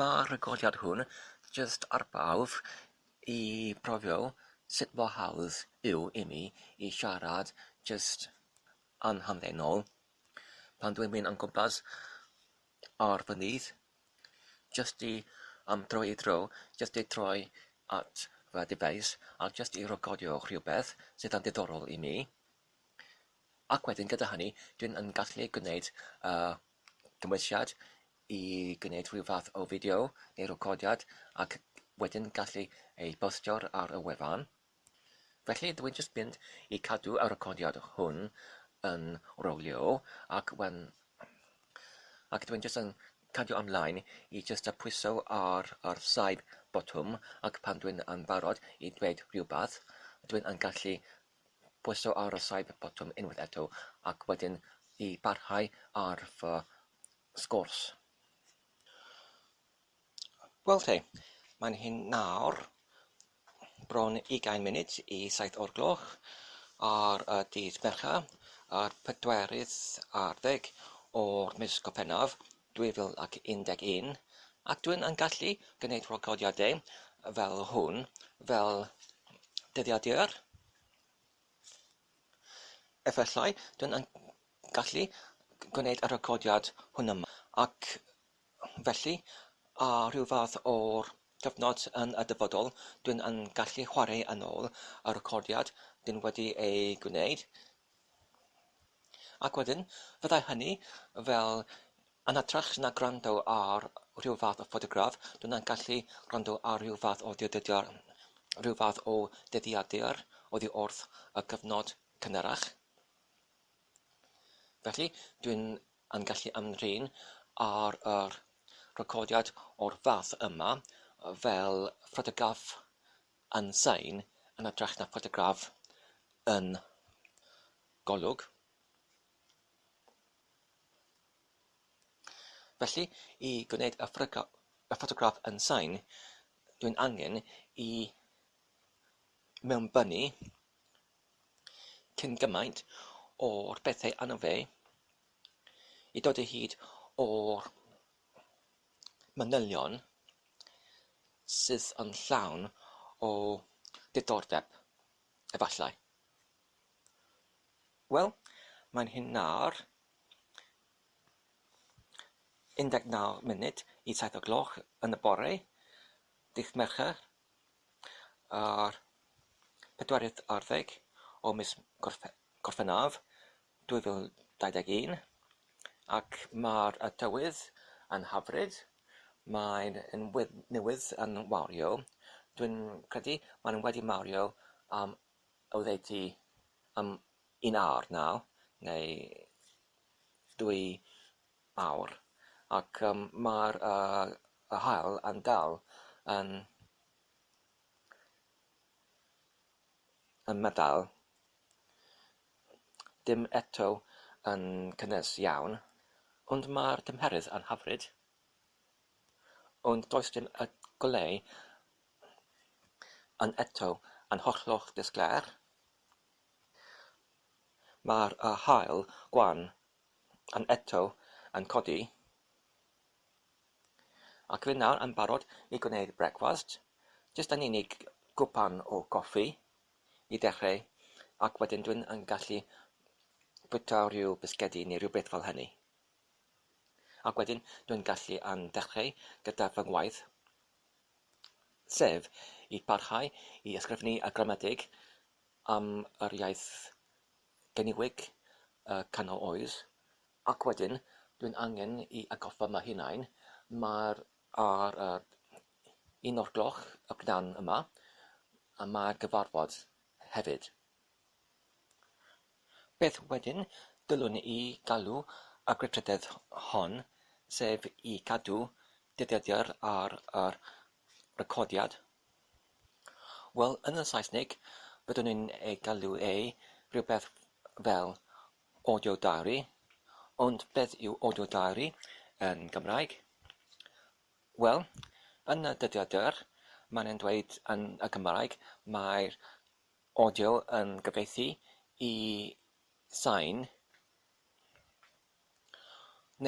Mae'r rhagoriad hwn jyst ar bawb i brofio sut mor hawdd yw imi i siarad jyst yn hamddenol pan dwi'n mynd o gwmpas ar fy nyth, jyst i am dro i dro, jyst i troi at fy dyfais a jyst i recordio rhywbeth sydd yn ddiddorol i mi. Ac wedyn gyda hynny dwi'n yn gallu gwneud yy dymwysiad i gwneud rhyw fath o fideo neu recordiad ac wedyn gallu ei bostio ar y wefan. Felly dwi'n jyst mynd i cadw y recordiad hwn yn rowlio ac when ac dwi'n jyst yn cadw ymlaen i jyst y pwyso ar yr saib botwm ac pan dwi'n yn barod i dweud rhywbeth dwi'n yn gallu pwyso ar y side botwm unwaith eto ac wedyn i barhau ar fy sgwrs. Wel te, mae'n hyn nawr bron ugain munud i saith o'r gloch ar y dydd Mercher, yr pedwerydd ar ddeg o'r mis Gorffennaf, 2011, ac dw i'n gallu gwneud recordiadau fel hwn, fel dyddiadur, efallai, dw i'n gallu gwneud y recordiad hwn yma, ac felly, ar ryw fath o gyfnod yn y dyfodol, dw i'n gallu chwarae yn ôl y recordiad dw i wedi ei gwneud, Ac wedyn, fyddai hynny, wel, yn hytrach na gwrando ar rhyw fath o ffotograff, dw i'n gallu gwrando ar rhyw fath o ddiwdyrdr, rhyw fath o dyddiadur oddi wrth y cyfnod cynharach. Felly, dw i'n yn gallu ymdrin â'r recordiad o'r fath yma fel ffotograff yn sain yn hytrach na ffotograff yn golwg. Felly, i gwneud y ffotograff yn sain, dwi'n angen i mewnbynnu cyn gymaint o'r bethau anno fe i dod o hyd o'r manylion sydd yn llawn o ddiddordeb, efallai. Wel, mae'n hyn nawr. 19 munud i 7 o gloch yn y bore, dydd Mercher, ar pedwarydd arddeg o mis Gorffennaf 2021, ac mae'r tywydd yn hyfryd, mae'n newydd yn wario, dwi'n credu mae'n wedi mario am oddeutu am un awr nawr, neu dwy awr, ac yym mae'r yy yr haul yn dal yn yn meddal Dim eto yn cynnes iawn, ond mae'r tymheredd yn hyfryd. Ond does dim y goleu yn eto yn hollol disglair. Mae'r y haul gwan yn eto yn codi. Ac fi nawr yn barod i gwneud brecwast, jyst yn unig gwpan o goffi. i ddechreu, ac wedyn dwi'n yn gallu bwyta rhyw bisgedi neu rhywbeth fel hynny. Ac wedyn dwi'n gallu yn dechreu gyda fy ngwaith, sef i barhau i ysgrifennu y gramedig am yr iaith geniwig y canol oes, ac wedyn dwi'n angen i atgoffa fy hunain, mae'r Ar yr un o'r gloch y p'nawn yma y mae'r gyfarfod hefyd. Beth wedyn dylwn i galw y gweithrededd hon, sef i gadw dyddiadur ar yr recordiad? Wel, yn y Saesneg, byddwn i'n ei galw e rhywbeth fel Audio Diary, ond beth yw Audio Diary yn Gymraeg? Wel, yn y dyddiau dur, mae'n e'n dweud yn y Gymraeg, mae'r audio yn gyfieithu i sain,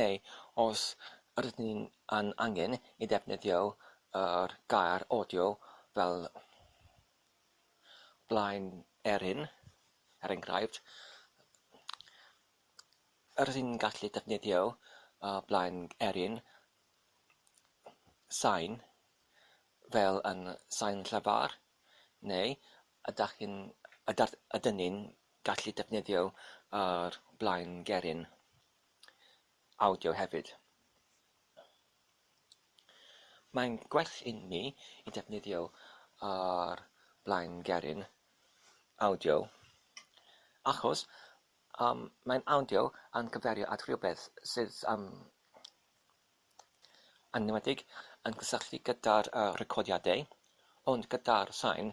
neu os ydyn ni yn angen i ddefnyddio yr gair audio fel blaen er hyn, er enghraifft, rydyn ni'n gallu defnyddio y blaen er hyn, sain, fel yn sain llafar, neu ydach chi'n... ydach... ydyn ni'n gallu defnyddio yr blaen geryn awdio hefyd. Mae'n gwell i mi i defnyddio ar blaen geryn, awdio, achos yym mae'n awdio yn cyfeirio at rywbeth sydd yym yn enwedig yn cysylltu gyda'r yy recordiadau ond gyda'r sain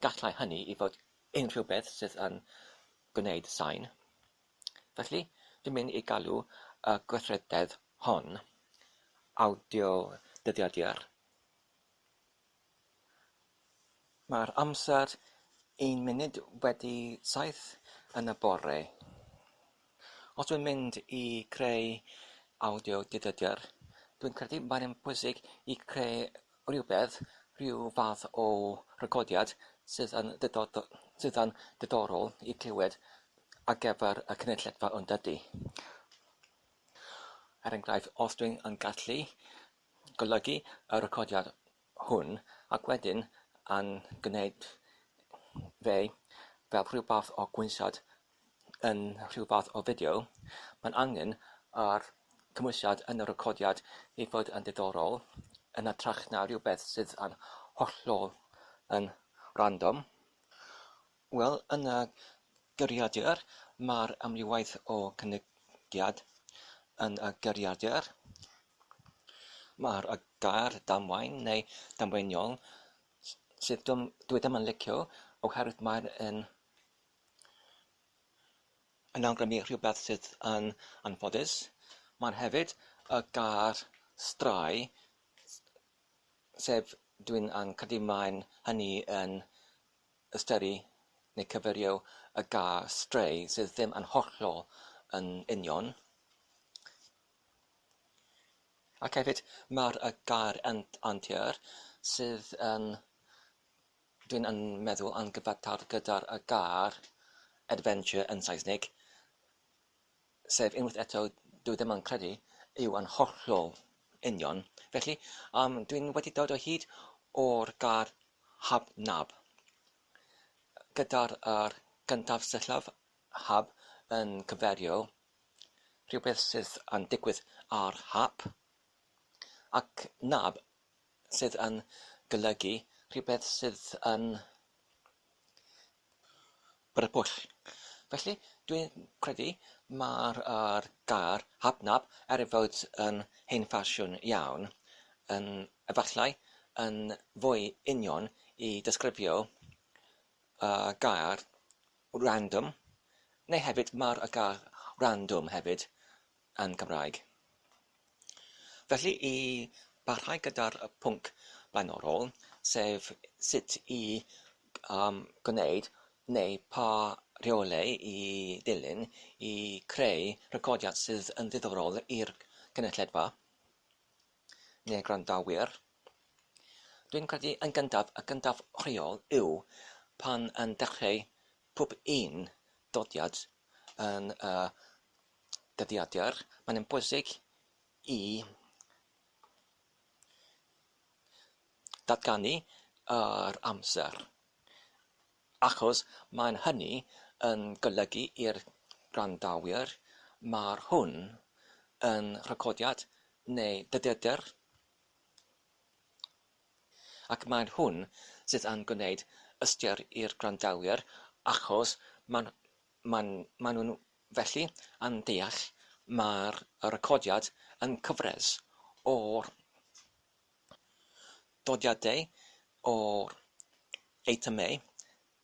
gallai hynny i fod unrhywbeth sydd yn gwneud sain. Felly, dwi'n mynd i galw y gweithrededd hon awdio-dyddiadur. Mae'r amser un munud wedi saith yn y bore. Os dwi'n mynd i creu awdio-dyddiadur, dwi'n credu mae'n bwysig i creu rhywbeth, rhyw fath o recordiad sydd yn sydd yn ddiddorol i glywed ar gyfer y cynulledfa yn dydy? Er enghraifft, os dwi'n yn gallu golygu y recordiad hwn ac wedyn yn gwneud fe fel rhyw fath o gwnsad yn rhyw fath o fideo, mae'n angen ar cymwysiad yn y recordiad ei fod yn ddiddorol, yn hytrach na rhywbeth sydd yn hollol yn random. Wel, yn y geiriadur, mae'r amrywiaeth o gynigiad yn y geiriadur. Mae'r gair 'damwain' neu 'damweiniol', sydd dw- dwi ddim yn licio oherwydd mae'n un yn awgrymu rhywbeth sydd yn anffodus. Mae'n hefyd y gair strae, sef dwi'n yn credu mae'n hynny yn ystyru neu cyfeirio y gair stray sydd ddim yn hollol yn union. Ac hefyd mae'r y gair antur sydd yn Dyn yn meddwl yn gyfateb gyda'r gair 'adventure' yn Saesneg, sef unwaith eto, dw i ddim yn credu, yw yn hollol union. Felly, um, dwi'n wedi dod o hyd o'r gair 'hab-nab'. Gyda'r er gyntaf syllaf 'hab' yn cyferio rhywbeth sydd yn digwydd ar hap, ac 'nab' sydd yn golygu rhywbeth sydd yn beryglus. Felly, dwi'n credu mae'r er gair 'hobknob', er ei fod yn hen ffasiwn iawn, yn efallai yn fwy union i ddisgrifio y gair 'random', neu hefyd mae'r gair 'random' hefyd yn Gymraeg. Felly, i barhau gyda'r pwnc blaenorol, sef sut i um, gwneud neu pa rheolau i ddilyn i creu recordiad sydd yn ddiddorol i'r cynulledfa neu'r gwrandawyr, Dwi'n credu yn gyntaf, y gyntaf rheol yw pan yn dechrau pob un dodiad yn y dyddiadur, mae'n yn bwysig i ddatganu yr amser, achos mae'n hynny yn golygu i'r gwrandawyr mae'r hwn yn recordiad neu dyddiadur, ac mae'n hwn sydd yn gwneud ystyr i'r gwrandawyr achos mae'n mae'n nhw'n Felly, yn deall, mae'r recordiad yn cyfres o dodiadau o eitemau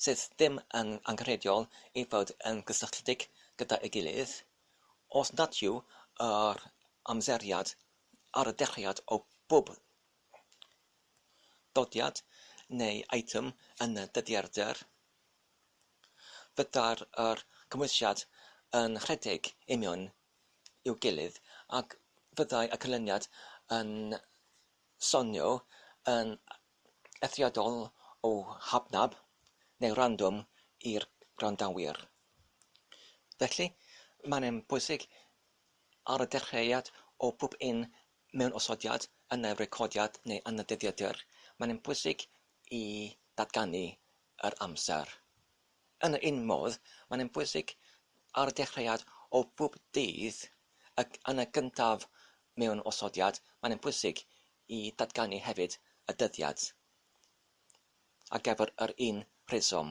sydd ddim yn angenrheidiol i fod yn gysylltiedig gyda'i gilydd, os nad yw yr amseriad ar y dechreuad o bob dodiad neu eitem yn dyddiadur. Fydda'r yr cymwysiad yn rhedeg union i'w gilydd ac fyddai y canlyniad yn sonio yn eithriadol o hafnaf neu random i'r gwrandawyr. Felly, mae'n un pwysig ar y dechreuad o bob un mewnosodiad yn y recordiad neu yn y dyddiadur, mae'n un pwysig i ddatganu yr amser. Yn yr un modd, mae'n un bwysig ar y dechreuad o bob dydd ac yn y gyntaf mewn osodiad, mae'n un bwysig i ddatganu hefyd y dyddiad ar gyfer yr un rheswm,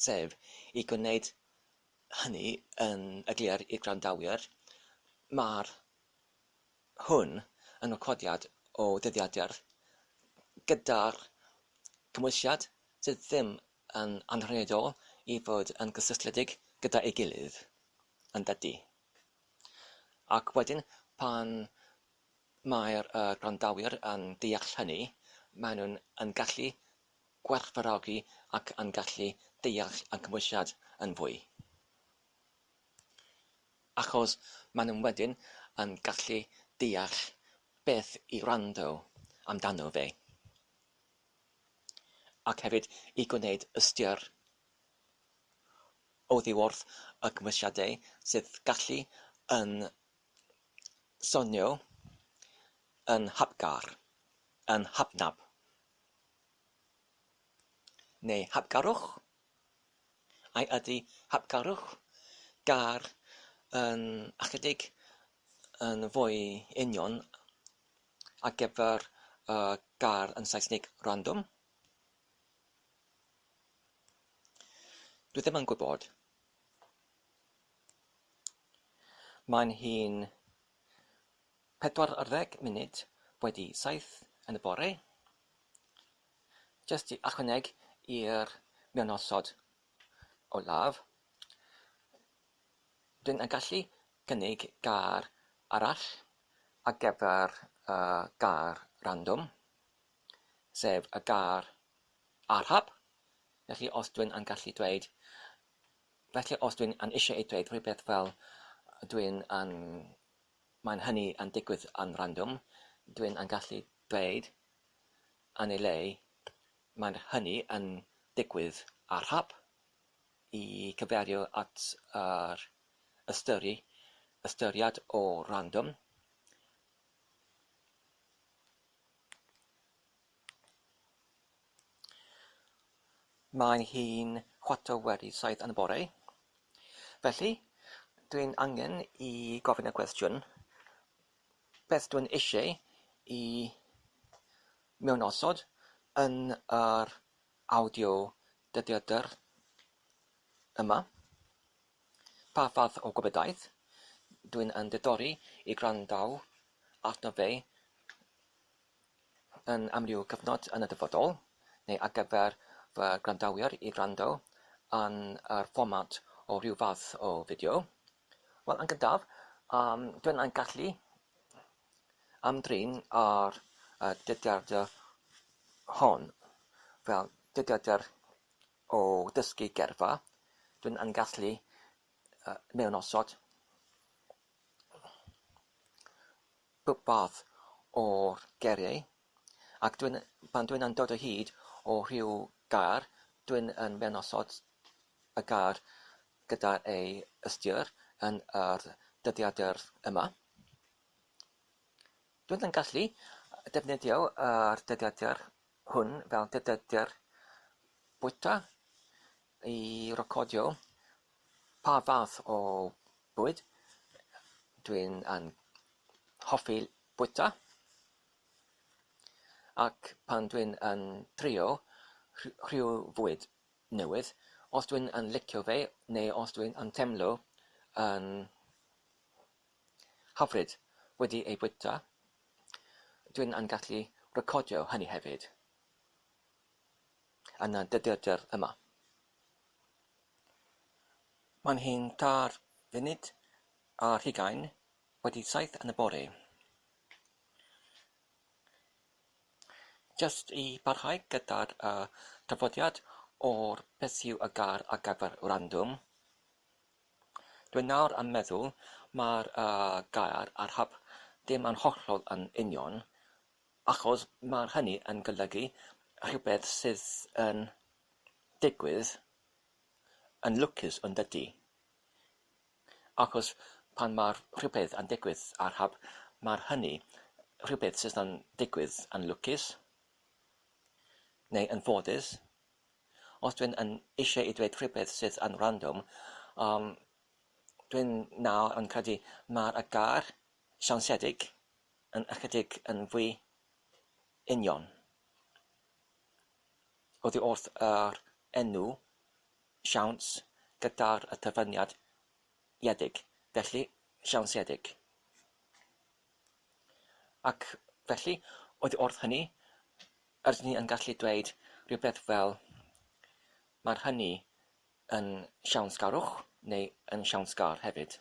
sef i gwneud hynny yn eglur i'r gwrandawyr, mae'r hwn yn recordiad o ddyddiadur gyda'r cymwysiad sydd ddim yn anrhydedol i fod yn gysylltiedig gyda'i gilydd, yn dydi? Ac wedyn, pan mae'r gwrandawyr yn deall hynny, maen nhw yn gallu gwerthfawrogi ac yn gallu deall y cymwysiad yn fwy. Achos maen nhw wedyn yn gallu deall beth i wrando amdano fe. Ac hefyd i gwneud ystyr oddi wrth y cymwysiadau sydd gallu yn sonio yn hapgar, yn hapnap neu hapgarwch. Ai ydy hapgarwch gar yn ychydig yn fwy union ar gyfer y gar yn Saesneg random? Dwi ddim yn gwybod. Mae'n hi'n pedwar ar ddeg munud wedi saith yn y bore. jyst i ychwanegu i'r mionosod olaf, rydyn yn gallu cynnig gair arall ar gyfer y gair random, sef y gair arhab. Felly os dwi'n yn gallu dweud, felly os dwi'n yn eisiau ei dweud rhywbeth fel dwi'n yn, mae'n hynny yn digwydd yn random, dwi'n yn gallu dweud yn ei le, mae hynny yn digwydd ar hap, i gyfeirio at yr ystyru, ystyriad o random, Mae hi'n chwarter wedi saith yn y bore, felly dwi'n angen i gofyn y cwestiwn, beth dw i'n eisiau i mewn osod yn yr awdio dyddiadur yma, pa fath o gwybodaeth dw i'n yn diddori i gwrando arno fe yn amryw gyfnod yn y dyfodol, neu ar gyfer fy gwrandawyr i wrando yn yr fformat o ryw fath o fideo. Wel, yn gyntaf, um, dwi'n yn gallu ymdrin ar y dyddiadau hon. Fel dyddiadau o dysgu gerfa, dwi'n yn gallu uh, mewn osod rhywbeth o'r geriau Ac dwi'n, pan dwi'n yn dod o hyd o rhyw gar, dwi'n yn menosod y gar gyda ei ystyr yn yr dyddiadur yma. Dwi'n yn gallu defnyddio yr dyddiadur hwn fel dyddiadur bwyta i recordio pa fath o bwyd dwi'n yn hoffi bwyta. Ac pan dwi'n yn trio rhyw fwyd newydd, os dwi'n yn licio fe neu os dwi'n yn teimlo yn hyfryd wedi ei fwyta, dwi'n yn gallu recordio hynny hefyd yn y dyddiadur yma. Mae'n hen tair funud ar hugain wedi saith yn y bore. Jyst i barhau gyda'r yy traddodiad o'r beth yw y gair ar gyfer random, dwi nawr yn meddwl mae'r yy gair ar hap ddim yn hollol yn union achos mae hynny yn golygu rhywbeth sydd yn digwydd yn lwcus yn dydi? Achos pan mae rhywbeth yn digwydd ar hap, mae hynny, rhywbeth sydd yn digwydd, yn lwcus neu yn ffodus. Os dwi'n yn eisiau i dweud rhywbeth sydd yn random, um, dwi'n nawr yn credu mae'r y gair siansedig yn ychydig yn fwy union oddi wrth yr enw siawns gyda'r y cyfuniad iedig, felly siawnsiedig. Ac felly, oedd wrth hynny, ydyn ni yn gallu dweud rhywbeth fel mae'r hynny yn siawnsgarwch neu yn siawnsgar hefyd.